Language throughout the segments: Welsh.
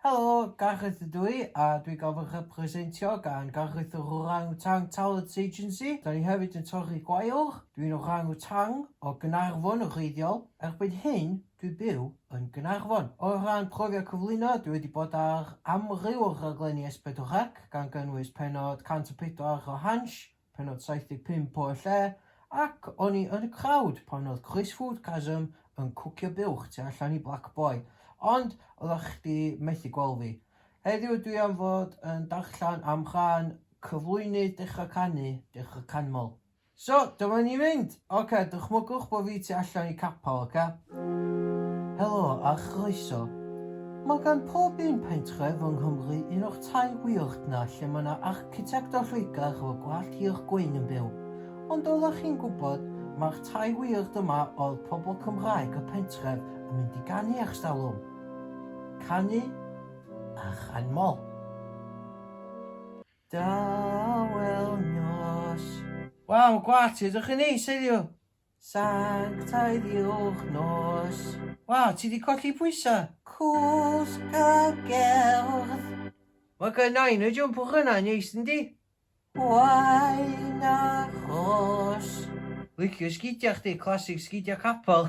Helo, Gareth ydw i, a dwi gael fy rhepresentio gan Gareth yr Orang-Utang Talents Agency. Da ni hefyd yn torri gwaelwch. Dwi'n orang-utang o Gaernarfon yn wreiddiol. Erbyn hyn, dwi byw yn Gaernarfon. O ran profiad cyflwyno, dwi wedi bod ar amryw o raglenni S4C, gan gynnwys pennod 104 o Hansh, Pennod 75 o Y Lle, ac o'n i yn y crowd pan oedd Chris Foodgasm yn cwcio buwch tu allan i Black Boy, ond oeddach chdi methu gweld fi. Heddiw dwi am fod yn darllen am rhan cyflwynydd Dechra Canu, Dechra Canmol. So, dyma ni'n mynd! Ocê, dychmygwch bod fi tu allan i capel, ocê? Helo a chroeso. Mae gan pob un pentref yng Nghymru un o'r tai wierd 'na lle mae 'na architect o Lloegr efo gwallt hir gwyn yn byw. Ond oeddech chi'n gwybod, mae'r tai wierd yma oedd pobl Cymraeg y pentref yn mynd i ganu ers talwm. Canu a chanmol. Da wel nos. Waw, gwah ti, ydych chi'n neis heddiw? Sanctaidd yw'ch nos. Waw, ti di colli pwysau? Cwsg a gerdd. Mae gen nain y jwmpwch yna, neis yn di? Wain a chos. Licio sgidia chdi, classic sgidia capel.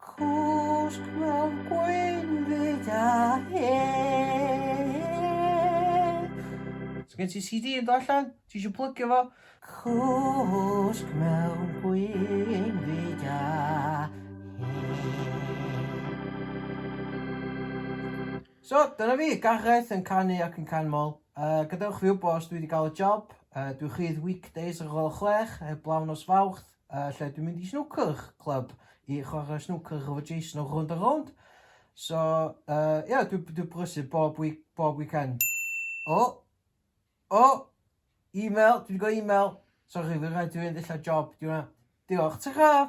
Cwsg mewn gwynfyd a hen. So gen ti CD yn do allan? Ti eisiau plygio fo? Cwsg mewn gwynfyd a So, dyna fi, Gareth yn canu ac yn canmol. Uh, gadewch fi wybod os dwi wedi cael y job. Uh, dwi chydd weekdays ar ôl chwech, heb blawn os fawrth. uh, lle dwi'n mynd i snwcr club i chwarae snwcr efo Jason o Rownd a Rownd. So, ie, uh, yeah, dwi'n dwi brysur bob, week, bob weekend. O! Oh, o! Oh, e-mail, dwi wedi gweld e-mail. Sorry, fi'n rhaid dwi'n mynd illa job, dwi'n Diolch, ta